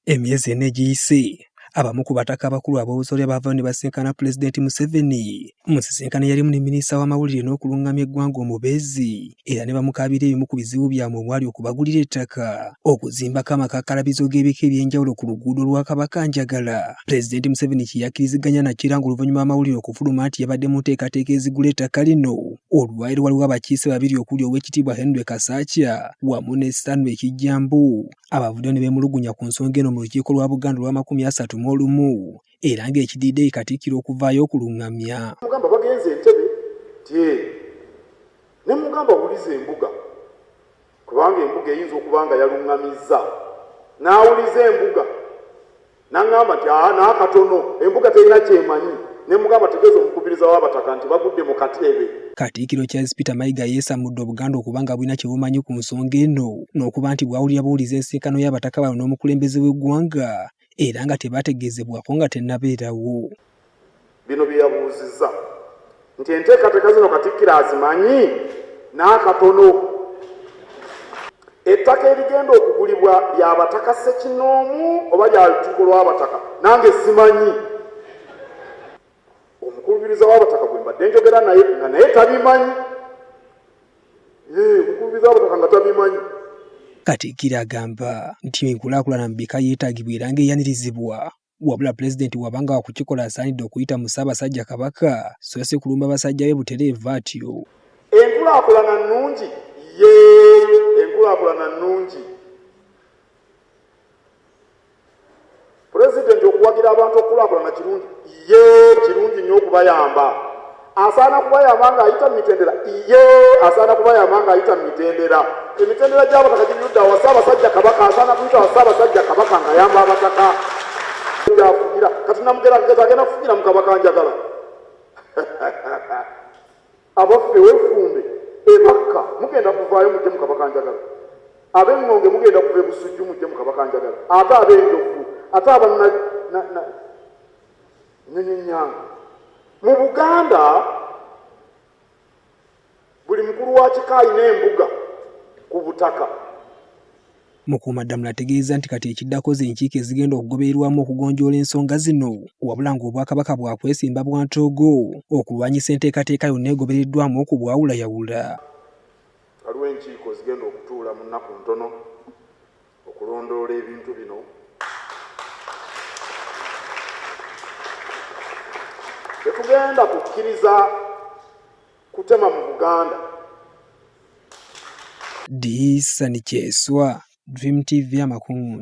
Emyezi ena egiyise abamu ku bataka abakulu ab'obusolya baavayo ne basinkana pulezidenti Museveni mu nsisinkano yalimu ne minisita w'amawulire n'okulungamya eggwanga omubeezi era ne bamukaabira ebimu ku bizibu byabwe omwali okubagulira ettaka okuzimbako amakakalabizo g'ebika eby'enjawulo ku luguudo lwa Kabaka Njagala pulezidenti Museveni kye yakkiriziganya nakyo era ng'oluvannyuma amawulire okufuluma nti yabadde mu nteekateeka ezigula ettaka lino olwaleero waliwo abakiise babiri okuli ow'ekitiibwa Henry Kasakya wamu ne Stanley Kijjambu abavuddeyo ne beemulugunya ku nsonga eno mu lukiiko lwa Buganda olw'amakumi asatu mu olumu era ng'ekidiridde ye Katikkiro okuvaayo okulungamya. Mugamba bagenze Entebbe nti ee ne mmugamba wuliza embuga kubanga embuga eyinza okuba nga yalungamizza n'awuliza embuga Naŋŋamba nti aa n'akatono embuga terina ky'emanyi ne mugamba tegeeza omukubiriza w'abataka nti bagudde mu kateebe. Katikkiro Charles Peter Mayiga yeesamudde Obuganda okuba nga bulina kye bumanyi ku nsonga eno n'okuba nti bwawulira buwulizi ensisinkano y'abataka bano n'omukulembeze w'eggwanga era nga tebaategeezebwako nga tennabeerawo. Bino bye yabuuzizza nti enteekateeka zino Katikkiro azimanyi n'akatono. Ettaka erigenda okugulibwa lya bataka ssekinnoomu oba lya lukiiko lw'abataka nange simanyi. Omukubiriza w'abataka gwe mbadde njogera naye nga naye tabimanyi. Yee omukubiriza w'abataka nga tabimanyi. Katikkiro agamba nti enkulaakulana mu bika yeetagibwa era ng'eyanirizibwa. Wabula Pulezidenti bw'abanga wakukikola asaanidde okuyita mu Ssaabasajja Kabaka so si kulumba basajja be butereevu atyo. Enkulaakulana nnungi? Yee, enkulaakulana nnungi. Pulezidenti okuwagira abantu okukulaakulana kirungi? Yee, kirungi nnyo okubayamba. asaana kuba yamanga ayita mu mitendera iye asaana kuba yamanga ayita mu mitendera emitendera gyabataka gibyudda wa ssaabasajja kabaka asaana kuyita wa ssaabasajja kabaka nga yamba abataka gyafugira kati namugerageza agenda kufugira mu kabaka njagala abaffe wefumbe ebakka mugenda kuvaayo mujje mu kabaka njagala ab'eŋŋonge mugenda kuva ebusujju mujje mu kabaka njagala ate ab'enjovu ate abana Nnyonyi Nyange. Mu Buganda buli mukulu wa kika alina embuga ku butaka. Mukuumaddamula ategeezza nti kati ekiddako z'enkiiko ezigenda okugobererwamu okugonjoola ensonga zino wabula ng'Obwakabaka bwakwesimba bwa ntoogo okulwanyisa enteekateeka yonna egobereddwamu okubwawulayawula. Waliwo enkiiko ezigenda okutuula mu nnaku ntono okulondoola ebintu bino tetugenda kukkiriza kutema mu buganda diisani kyeswa dream tv amakungunta